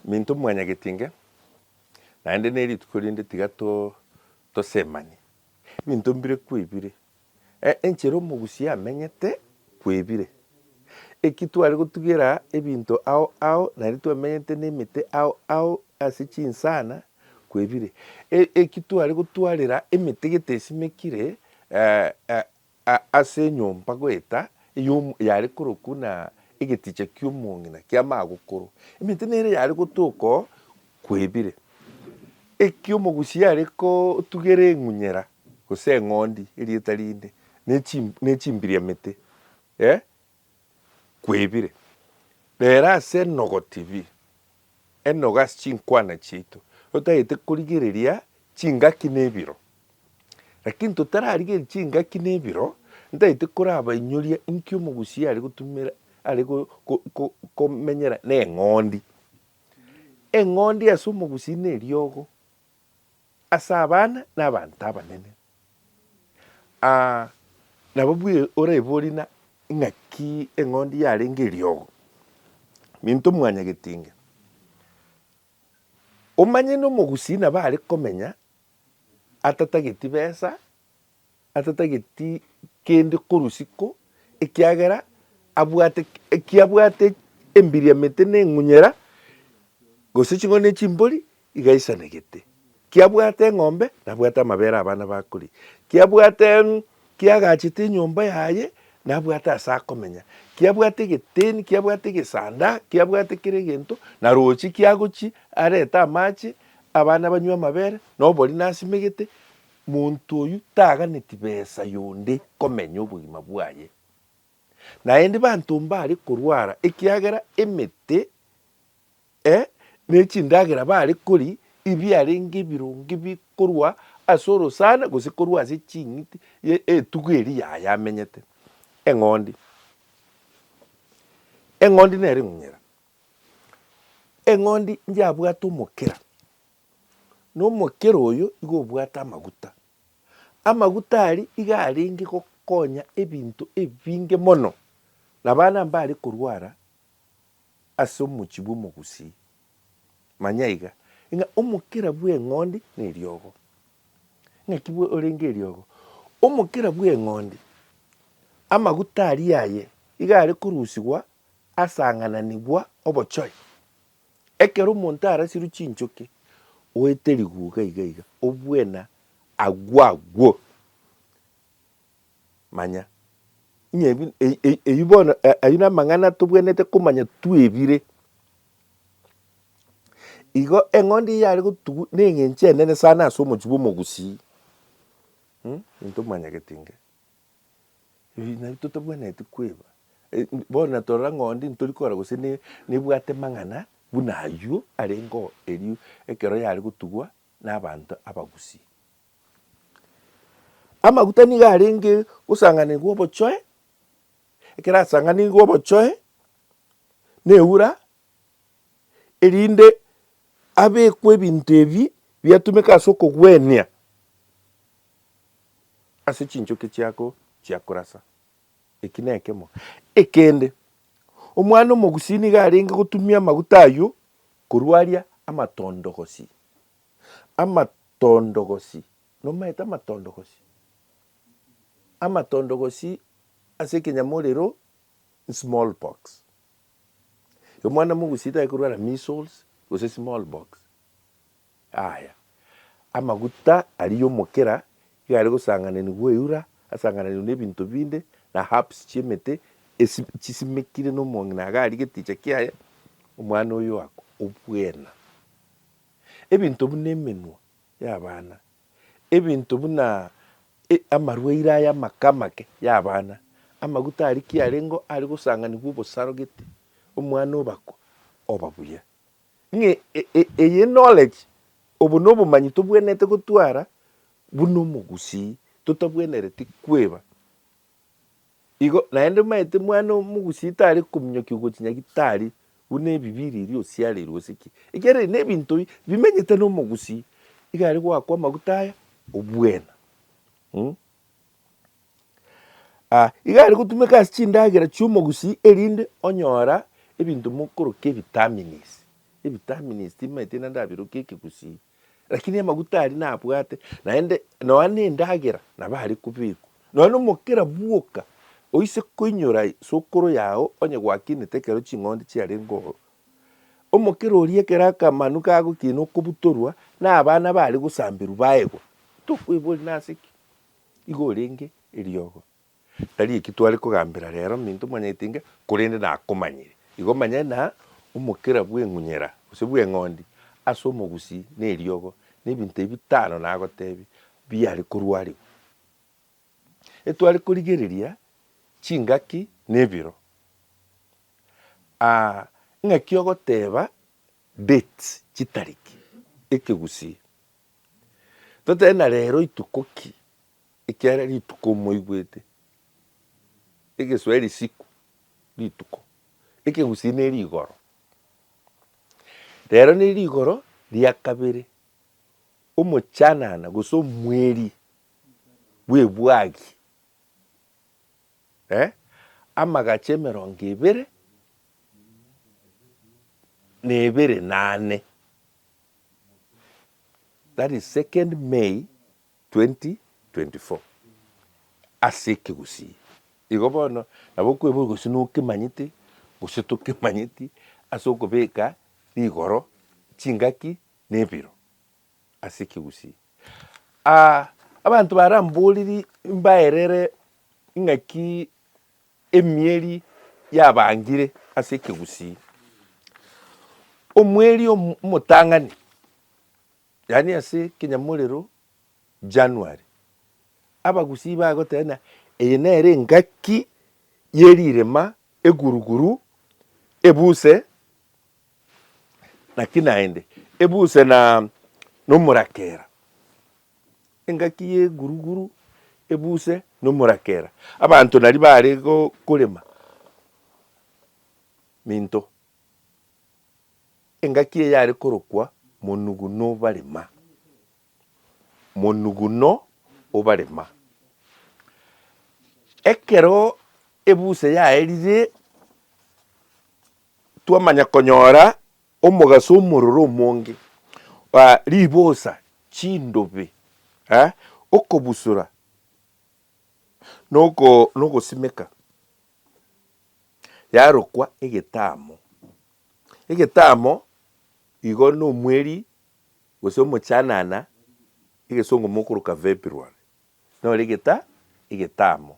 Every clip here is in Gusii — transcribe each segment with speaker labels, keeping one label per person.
Speaker 1: Minto mwanyagetinge, naende nerituko rinde tiga tosemanie. Ebinto mbire kwebire, enchera omogusi amenyete kwebire. Eki tware gotugera ebinto ao ao naende twamenyete nemete ao ao ase chinsana kwebire. Eki tware gotwarera emete gete esimekire Ase enyomba goeta eyomo yare korokwo na egeticha ki'omong'ina ki'amagokoro, emete nere yare gotoka oo kwebire. Eki omogusi are kotugera eng'unyera, gose eng'ondi, erieta rinde, ne chimbiriamete, ee, kwebire, rero ase enogo tibi, enogo ase chinkwana chiaito, totagete korigereria chingaki na ebiro. Lakini totararigereria chingaki na ebiro, ntagete korabainyoria inki omogusii are gotumera are go- go- go- komenyera na eng'ondi. Eng'ondi ase omogusii na eriogo. Ase abana na abanto abanene. Aa, nabo bwe oraibori na ing'aki eng'ondi yarenge eriogo. Minto mwan'ya getinge. Omanye nomogusii nabo are komenya atatageti besa. atatageti kende korusi ko, ekiagera abwate eki abwate embiriamete na eng'unyera, gose ching'ondi ne chimbori, iga aisanegete. Ki abwate eng'ombe, nabwate amabere abana bakoria. Ki abwate ki agachete enyomba yaye, nabwate ase akomenya. Ki abwate egeteni, ki abwate egesanda, ki abwate kera egento, na roche ki agochia arete amache, abana banywe amabere, na obori nasimegete. Monto oyio taganeti besa yonde komenya obogima bwaye, naende banto mbare korwara ekiagera emete, e, ne chindagera bare kori ibiarenge ebironge bikorwa ase orosana gose korwa ase ching'iti ye etugo eri yaye amenyete. Eng'ondi. Eng'ondi nere ng'unyera. Eng'ondi njabwate omokera. Nomokera oyo igo obwate amaguta. Amaguta aria iga arenge gokonya ebinto ebinge mono, na abana mbare korwara ase omochie bw'omogusii. Manya iga, ng'a omokera bw'eng'ondi neriogo. Ng'aki orenge eriogo? Omokera bw'eng'ondi, amaguta aria aye iga are korusigwa asang'ananigwa obochore, Ekero omonto arasirwe chinchoki, oete riguga iga iga, obwena agwo agwo. Manya, ng'a ebi e- e- eyio bono a- ayio namang'ana tobwenerete komanya twebire. Igo eng'ondi eyio yare gotugu na eng'encho enene sana ase omochie bwa omogusii, ntomanyagete inga. Eeh nabo totabwenereti kweba, eh bono na torora ng'ondi ntori kora gose ne nebwate mang'ana buna aywo arengeo erio ekero yare gotugwa na abanto abagusii. Amaguta nigo arenge gosanganigwa obochoe, ekero asanganigwe obochoe na eura, erinde abekwe ebinto ebi biatumeka ase okogwenia. ase chinchoki chiako chia korasa. Eki nekemo. Ekende, omwana omogusii nigo arenge gotumia amaguta ayio korwa aria amatondogosi, amatondogosi, nomaete amatondogosi? Amatondogosi ase ekenyamorero small pox. Omwana mogusii taye korwara measles gose small pox. Aaya, amaguta aria y'omokera iga are gosangananigwa eura, asangananigwe n'ebinto binde, na herbs chi'emete esi chisimekire nomong'ina iga aria geticha kiaye, omwana oyo oakwa obwena. Ebinto buna emenwa y'abana, ebinto buna e, amarwaire aya amake amake y'abana, amaguta aria ki arengeo are gosanganigwa obosaro gete, omwana obakwa oba buya. Ng'a eye knowledge, obo nobomanyi tobwenerete gotwara buna omogusii totabwenereti kweba. Igo naende omaete mwana omogusii tari kominyokia ogochi nyagitari buna ebibi riria osiareirwe gose ki. Ekiagera ebi nebinto bi bimenyete nomogusii, iga aria goakwa amaguta aya obwena. Ah, iga are gotumeka ase chindagera chi'omogusii erinde onyora ebinto mokoroka ebitamines. Ebitamines timaeti naende abirokia ekegusii, rakini amaguta aria nabwate naende nonya na endagera nabo are kobekwa. Nonya na omokera bwoka oise koinyora sokoro yago onye gwakinete ekero ching'ondi chiarenge ororo, omokera oria ekero akamanu kagokina okobutorwa na abana bare gosamberwa baegwa, tokoeboria nase ki? Igo orenge eriogo. Tari eki tware kogambera rero, minto omanyete inga, korende nakomanyire. Igo manya na omokera bw'eng'unyera, gose bw'eng'ondi, ase omogusi na eriogo, nebinto ebi bitano nagotebia, biare korwarigwa. Etware korigereria chingaki na ebiro. Aa ng'aki ogoteba dates, chitariki, ekegusi. Totebe na rero rituko ki? Ekiagera rituko moigwete, egeswahili siku rituko, ekegusii ne rigoro. Rero ne rigoro ria kabere, omochanana gose omweri bw'ebwagi eh, amagacho emerongo ebere na ebere nane. that is 2nd May 2024 ase ekegusii igo bono nabo okoeboria gose nokemanyete gose tokemanyeti ase okobeka rigoro chingaki na ebiro ase ekegusii. Abanto baramboriri mbaerere ng'aki Emieri yabangire ase ekegusii. Omweri omotang'ani, yaani ase ekenyamorero January, abagusii bagoteba ng'a eye nere engaki y'erirema, eguruguru, ebuse, Naki naende, ebuse na nomorakera, engaki y'eguruguru, ebuse na omorakera. Abanto nario bare korema minto, engaki eye yare korokwa monuguno obarema, monuguno obarema. Ekero ebuse yaerire twamanya konyora omogaso omororo omonge, ribosa, chindobe, okobusura, na ogosimeka yarokwa egetamo. Egetamo igo na omweri gose omochanana, egesongo mokoroka February, nore egetamo.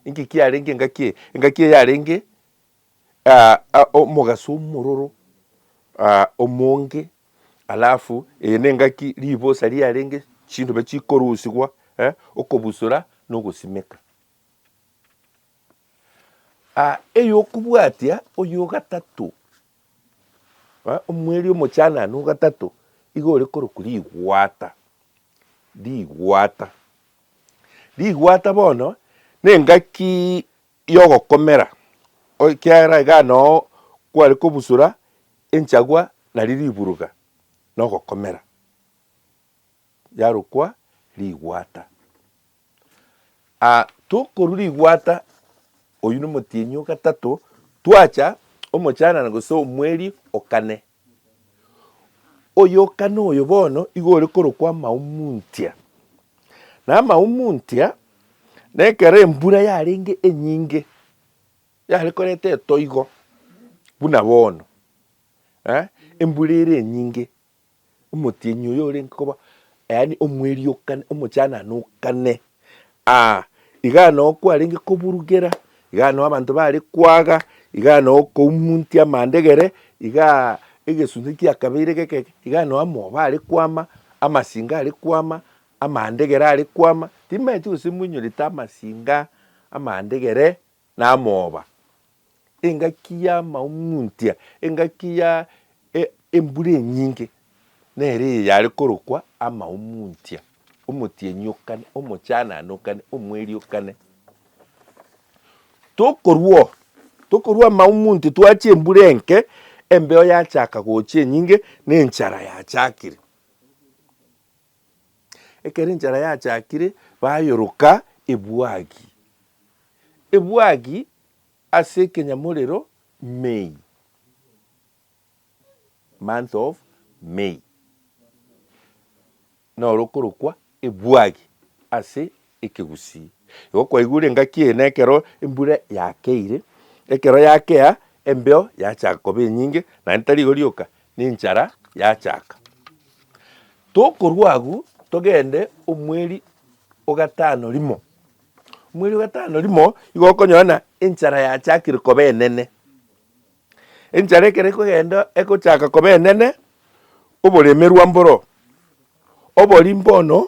Speaker 1: Inki kiarenge engaki eye? Engaki eye yarenge omogaso omororo omonge, alafu eye nengaki ribosa riarenge chindobe chikorusigwa okobusora na ogosimeka. Eyokobwatia oyo ogatato, omweri omochanane ogatato igo ore korokwa rigwata, rigwata, rigwata bono nengaki y'ogokomera, ekiagera igaa noo kware kobusura enchagwa nario riburuga nogokomera, yarokwa rigwata. Tokorwa rigwata, oyio nomotienyi ogatato, twacha omochanana gose omweri okane. Oyoka noyo bono igo ore korokwa amahumuntia. Na amahumuntia, nekero embura yarenge enyinge, yare koreta etoigo buna bono, eh, embura ere enyinge, omotienyi oyo orenge koba yaani omweriokani, omochananokane. Aa, iga noo kwarenge koburugera, iga noo abanto bare kwaga, iga noo koumuntia amandegere, iga egesunte kiakabeire geke, iga noo amoba are kwama, amasinga are kwama, amandegere are kwama. Timaeti gose moinyorete amasinga, amandegere. Namooba, engaki y'amaung'untia, engaki ya e, embura enyinge, nere eye yare korokwa amaung'untia, omotienyi o kane, omochanane o kane, omweri o kane. Tokorwa oo, tokorwa amaung'unti twachia embura enke, embeo yachaka gocha enyinge, na enchara yachakire. Ekero enchara yachakire bayoroka ebwagi ebwagi ase ekenyamorero May, month of May, noro okorokwa ebwagi ase Ekegusii. Igo kwaigure engaki eye nekero embura yakeire, ekero yakea embeo yachaka koba enyinge, naende tari igo rioka, na enchara yachaka. Tokorwa agwo togende omweri ogatano rimo, omweri ogatano rimo igo okonyora ng'a enchara yachakire koba enene. Enchara ekero ekogenda egochaka koba enene, oboremerwa mboro, oboria mbono.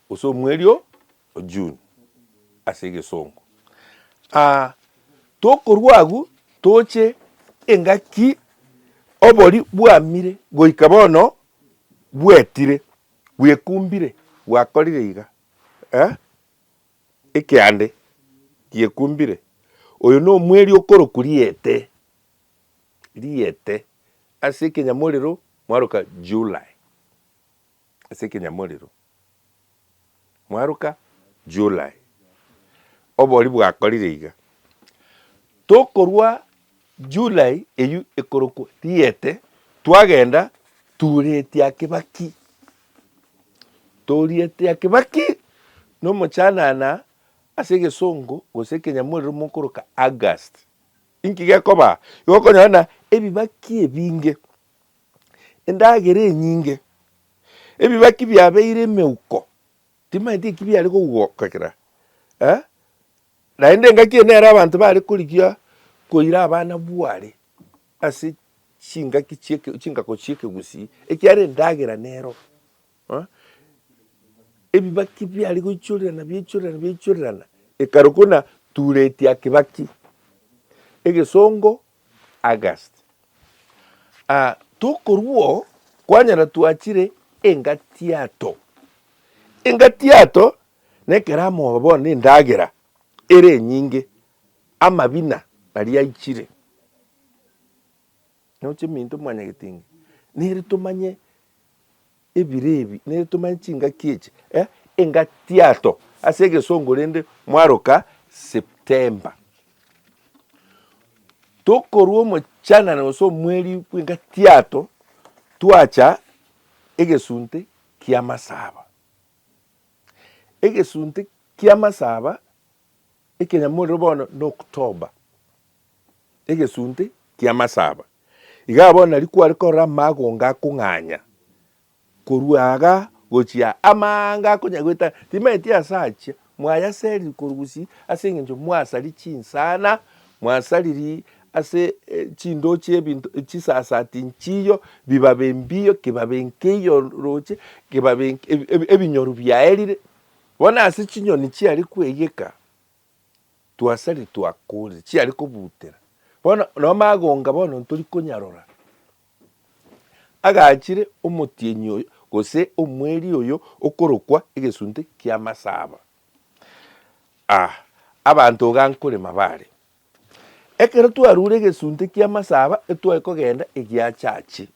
Speaker 1: Gose omweri o June ase egesongo. Aa, tokorwa agwo toche engaki obori bwamire goika bono bwetire, bwekumbire, bwakorire iga. Ee, ekeande giekumbire. Oyo nomweri okorokwa riete, riete, ase ekenyamorero mwaroka July. ase ekenyamorero. Mwaruka? July. Obori bwakorire iga. Tokorwa July eyio ekorokwa Riete, twagenda turieti aa Kibaki. Torieti aa Kibaki na omochanana ase egesongo gose ekenyamorero mokoroka August. Inki gekoba? Igo okonyora buna ebibaki ebinge endagera enyinge, ebibaki biabeire emeuko, timanyeti eki biare kogokera, eh, naende engaki eye nere abanto bare korigia koira abana bware ase chingaki chieke chingako chiekegusii, ekiara endagera nero, eh, ebibaki biare goichorerana biaichorerana biaichorerana ekare kona turetia kibaki, egesongo August. Aa tokorua oo kwanyara twachire engatiato. Engatiato nekero amoba bono endagera ere enyinge, amabina aria aichire. Noche minto mwanyagetinga nere tomanye. Ebire ebi nere tomanye chingaki echi eh engatiato ase egesongo rende mwaroka September. Tokorwa omochanana gose omweri bw'engatiato twacha egesunte ki'amasaba. Egesunte ki'amasaba Ekenyamorero bono n'okotoba, egesunte ki'amasaba. Iga bono nari kware korora amagonga akong'anya korwa iga gochia amaanga akonyagoeta, timanyeti ase achia mwayaseriri korugusi ase engencho mwasari chinsana, mwasariri ase chindoo chi'ebinto chisasati nchiyo, bibabe mbiyo, kibabe nkeiyo roche, kibabe ebinyoru biaerire. Bono ase chinyoni chiare kweyeka twasari twakorire chiare kobutera, bono no magonga bono ntori konyarora, agachire omotienyi oyo gose omweri oyo okorokwa egesunte kia masaba. Ah, abanto iga nkorema bare. Ekero twarure egesunte kia masaba etware kogenda egiachache,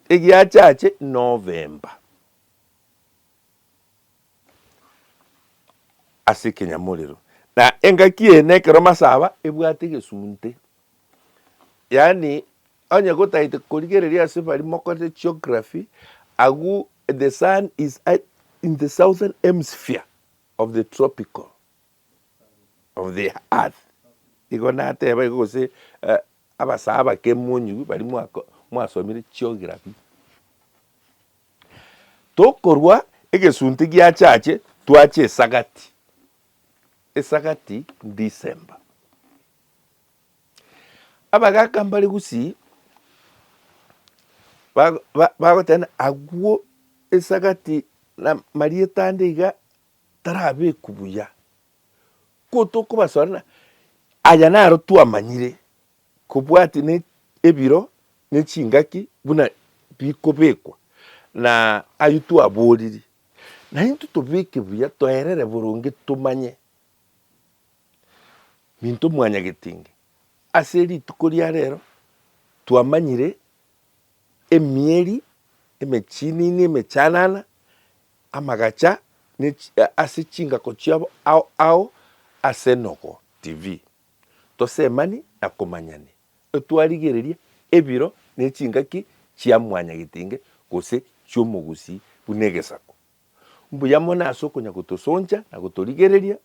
Speaker 1: egiachache November. ase ekenyamorero, na engaki eye nekero masaba ebwate egesunte. Yaani onye gotagete korigereria ase baria mokorete geography, agwo the sun is at in the southern hemisphere of the tropical of the earth igo nateba igo gose abasaba bakemonyiwa baria mwasomire geography. Tokorwa egesunte giachache twache esagati, esagati December. Abagaka mbare gusii bagoteba agwo esagati na marieta ande iga tarabekwa buya. Ko tokobasora ng'a aya naro twamanyire. kobwate ne ebiro ne chingaki buna bikobekwa, na ayio twabooriri, naintwe tobeke buya toerere boronge tomanye minto mwanyagetinge. Ase rituko ria rero twamanyire emieri emechinini emechanana, amagacha ne ase chingako chiabo ao ao ase Nogo TV. Tosemani na komanyani, etwarigereria ebiro ne chingaki chia mwanyagetinge gose chi'omogusii buna egesaku. Mbuya mono ase okonya gotosoncha na gotorigereria,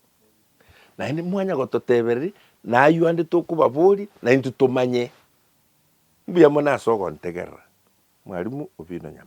Speaker 1: naende mwanya gototebereria nayio ande tokobaboria naintwe tomanye. Mbuya mono ase ogontegerera, Mwarimu Obino Nyama.